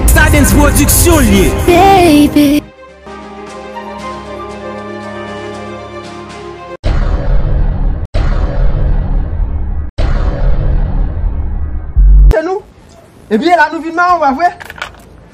Stadens production l ye. Baby. Ebyen la nou vin maron pa vre?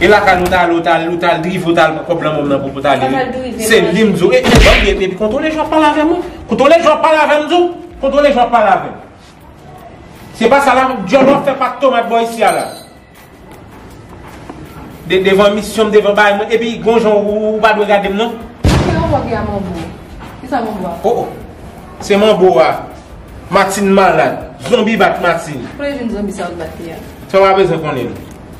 E lakay l ou ta ale ou ta ale ou ta ale drive ou ta ale pran kòb lanmòm nan pou pou ta ale wi se li m di w e e banm e e kontwole jan wap pale avè m wi kontwole jan wap pale avè m m di w kontwole jan wap pale avè m se pa sa la dyòl wap fè pat tomat bò isi a la de devan misyon m devan bagay mwen e pi gon jan ou pa dwe gade m non kisa manbo ki a manbo kisa manbo a o o se manbo a Martine malad zonbi bat Martine kole vin zonbi sa ou t bat li a sa w pa bezwen konnen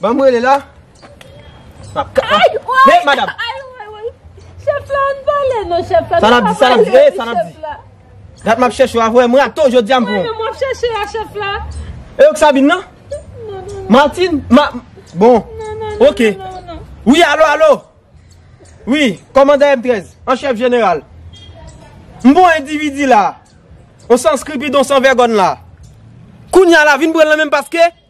Banm rele la. Map ka. Ay woy. Hey madam. Ay woy woy. Chef la an pale non chef la. Sa nap di sa nap di. Sa nap di. Dat map chèche wa vwe mwen ato jodi am pou. Mwen map chèche wa chef la. E ok sa bin nan? Non non. Martin. Ma. Bon. Non non. Ok. Non non. Oui alo alo. Oui. Komanda M13. An chef general. Mbo individi la. On san skripi don san vergon la. Kounya la vin pran la menm paske.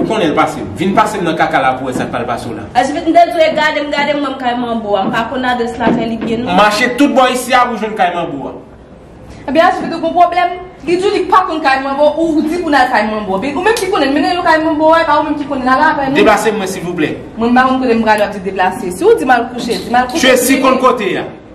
Ou konnen l pase m. Vin pase m nan kaka la pou wè sa k pral pase w la. Ajivit m te di w e gade m gade m ban m kay manbo a. M pa konn adrès la men li byen non. Mache tout bò isi a pou w jwenn kay manbo a. Ebyen Ajivit ou gen w pwoblèm? Li di w li pa konn kay manbo ou ou di pou n al kay manbo. Ebyen ou menm ki konnen mennen nou kay manbo a e pa ou menm ki konnen al avè nou. Deplase m mwen silvouplè. Mwen m pa konn kote m prale w ap di deplase. Si w di m al kouche di m al kouche. Tracy konn kote a.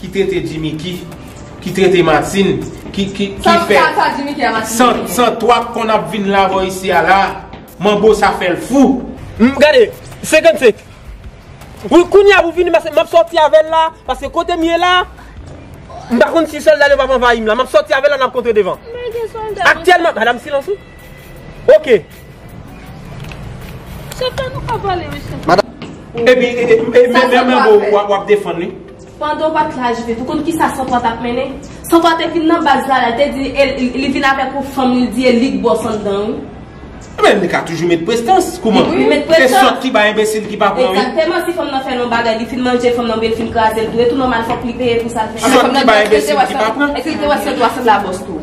Ki trete jimiki Ki trete matin Ki ki ki fè San san toi p konn ap vin lavò isi a la Manbo sa fè l fou. Humm gade 55 Wi kounya pou fini paske map sòti avèl la paske kotem ye la m pa konn si sòlda yo pap anvayim la map sòti avèl la nap kontre devan aktyèlman madam silans ou. Ok. Chantè nou pa vole wi chantè. Epi men men bo wap defann li. Pandan w pat la Judith, ou konn kisa Santwa tap mennen? Santwa te vin nan baz la, li te di li vin avèk yon fanm li di e li k bòs anndan wi. Men li ka toujou met prestans, kouman? Li met prestans. Se sòt ki bay enbesil ki pa pran wi. Egzakteman, si fanm nan fè l yon bagay, li fin manje fanm nan oubyen li fin kraze l tou, e tou nòmal fòk li peye pou sa l fè. Sòt ki bay enbesil ki pa pran. Eske li te wè Santwa se la bòs tou?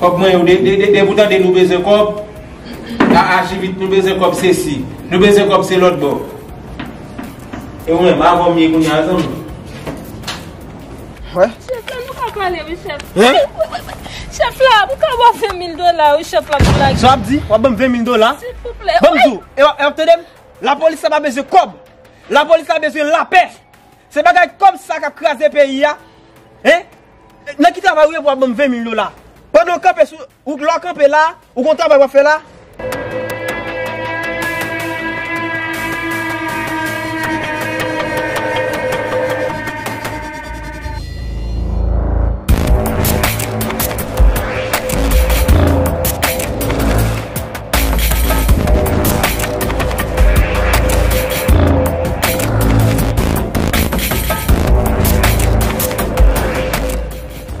Kòb mwen yo depi ou tande nou bezwen kòb a aji vit nou bezwen kòb se si nou bezwen kòb se lòt bò e ou menm avè m ye kounye a zanmi m. Chèf la nou ka pale wi chèf. Chèf la m ka ba w 20 mil dola wi chèf la pou lage. Sa w ap di? W ap ban m 20 mil dola? Silvouplè. Ban m di w e w ap tande m lapolis la pa bezwen kòb lapolis la bezwen lapè se bagay kòb sa k ap kraze peyi a e. Nan ki travay ou ye pou wap banm 20 mil dola? Pandan ou kanpe sou, ou lè w kanpe la, ou gon travay wap fè la?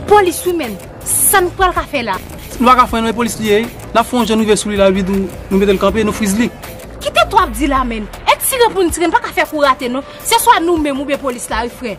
Polis wi menm, sa nou pral ka fè la? Nou pa ka frenn e polis li ye, n ap fè yon jan nou rive sou li la epi nou mete l kanpe, nou friz li. Ki tèt w ap di la menm? E tire pou n tire, n pa ka fè kou rate non. Se swa nou menm oubyen polis la wi frè.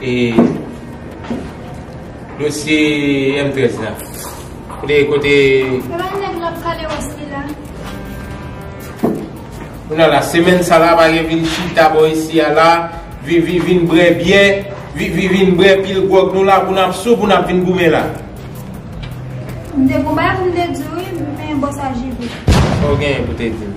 E dosye M13 la? Kote, kote? Se pa yon nèg l ap pale wòs li la? O la la, semèn sa la pa gen vin chita bò isi a la, vin, vin, vin brè byè, vin, vin, vin brè pil gwòg nou la pou n ap sou, pou n ap vin goumen la? M te gen yon bagay pou m te di w wi, men bon sa JB. Sa w genyen pou w te di m?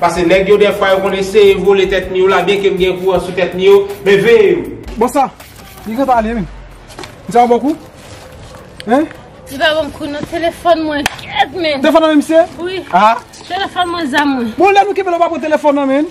Pase neg yo defwa yo konn eseye vole tet miu la byen kem gen kouran sou tet mi yo men veye yo. Bon sa Li gentan ale menm. Li ta bon kou hein. Li pa banm kou nan telefon mwen kèt menn. Telefon nan menm misye? Wi. Telefon mwen zam mwen. Bon lè nou kenbe la ou pa pran telefon nan menn.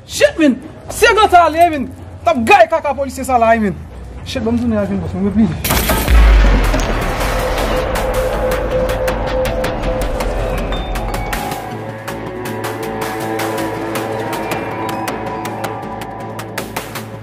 Shit min, se nan ta ale min, nap gaye kaka polisye sa la wi min. Shit banm tounen avèl boss mwen mwen bliye.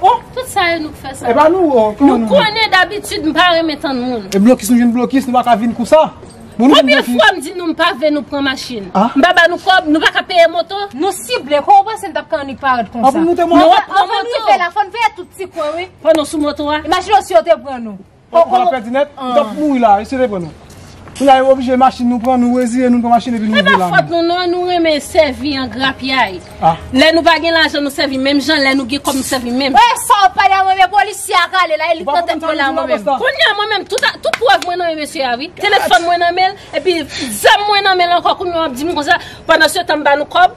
Oh tout sa yo nou k fè sa. Epa nou oh kòman nou. Nou konnen dabitid m pa renmen tann moun. E blokis nou jwenn blokis nou pa ka vin kousa. Konbyen fwa m di nou m pa vle nou pran machin. M pa ba nou kòb nou pa ka peye moto. Nou sible kò ou panse nou t ap kannik parèt konsa. Anvan nou te monte. Anvan nou rive la fò n veye tout ti kwen wi. Pandan w sou moto a. Imajine w si yo te pran nou. Ou pran pèdi nèt, ou tap mouri la, esye repran nou. Kou la yo oblije machin nou pran, nou reziye nou pran machin epi nou ouvri la. E pa fòt nou non, nou renmen sèvi an grapyay. Lè nou pa gen lajan nou sèvi menm jan, lè nou gen kòb nou sèvi menm. Wè sa ou pale a mwen menm, polisye a kale la, e li pran tèt mwen la mwen menm. Kounye a mwen menm, tout prèv mwen nan men mesye a wi. Telefòn mwen nan menl, epi zam mwen nan menl ankò kounye a wap dim konsa, pandan se tan m ba nou kòb,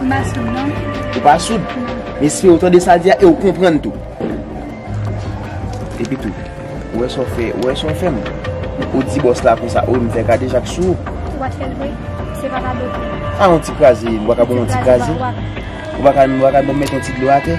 Mwen pa soud non. Ou pa soud? Mesye ou tande sa di a e ou konprann tou. Epi tou, ou wè sa ou fè, ou wè sa ou fè m. Ou di bòs la konsa, ou wè m fè kade jak sou ou. Ou pa t fè l vre? Se pa kado vre. A yon ti kraze, m baka bon yon ti kraze. Ou baka m mete yon ti dlo atè.